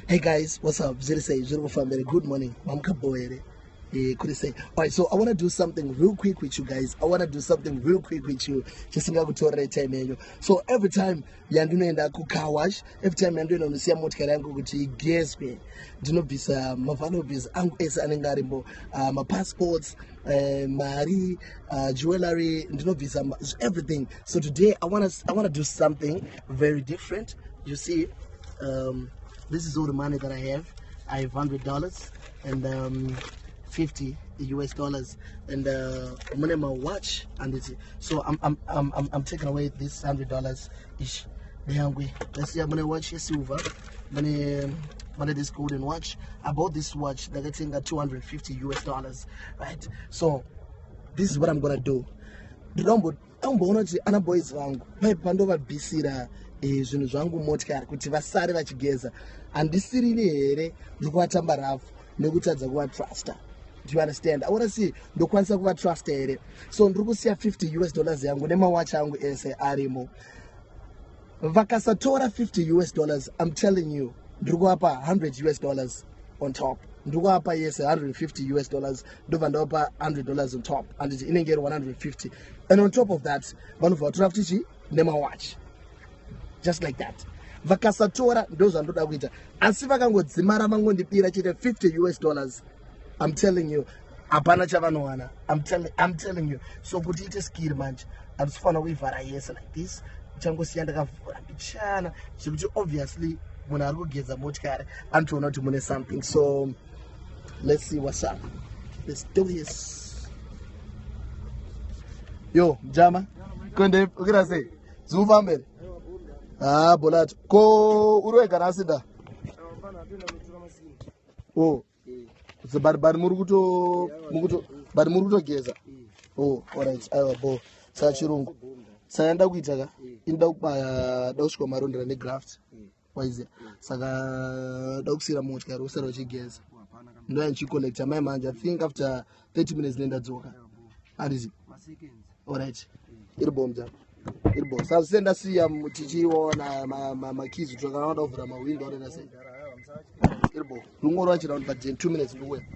Hey guys, what's up? Ziri sei, zviri kufamba here? Good morning, mamuka bho here? Eh, kuri sei? Alright, so I want to do something real quick with you guys. I want to do something real quick with you. Chisingakutorere time yenyu. So every time yandinoenda ku car wash, every time yandinoenda kunosiya motikari yangu kuti igezwe, ndinobvisa mavaluables angu ese anenge arimo, uh, mapassports, uh, mari, uh, jewelry, ndinobvisa everything. So today I want to I want to do something very different. You see? um, this is all the money that i have i have 100 dollars and um, 50 us dollars and uh, mune mawatch handiti so I'm, I'm, I'm, I'm taking away this 100 dollars ish ndeyangwe ndasiya mune watch yesilver mune mune this golden watch i bought this watch ndakatenga 250 us dollars right so this is what i'm gonna do amboona kuti ana boys vangu paipi pandovabisira eh, zvinhu zvangu motikari kuti vasare vachigeza handisirini here ndiri kuvatamba rafu nekutadza kuvatrusta do you understand aona si ndokwanisa kuvatrusta here so ndiri kusiya 50 us dollars yangu nemawachi angu ese arimo vakasatora 50 us dollars im telling you ndiri kuvapa 100 us dollars on top ndiri kuvapa yese 150 us dollars ndobva ndavapa 100 dollars on top anditi inenge iri 150 and on top of that vanobva vatora futi chi nemawatch just like that vakasatora ndozvandoda kuita asi vakangodzimara vangondibira chete 50 us dollars I'm telling you hapana chavanowana I'm, tell, I'm telling you so kuti ite skiri manje handisifanira kuivhara yese like this changosiya ndakavhura mbichana zvekuti obviously munhu ari kugeza motikari anotoona kuti mune something so let's see what's up let's do this yo mjama kwende ukira sei ziufambere haa ah, bolato ko uri wega nasi da oh so but but muri kuto mukuto but muri kutogeza oh alright aiwa bo saka chirungu saka nda kuita ka inda kubaya da kusvika marondera ne graft waize saka da kusira motya ro sero chigeza ndo yanchi collect amai manje i think after 30 minutes nenda dzoka handizi alright iri bom dzako iri bom sasa senda siya tichiona makizi tokana vada kuvhura mawindo anenda sei iri bom rungoro vachira kuti but 2 minutes nduwe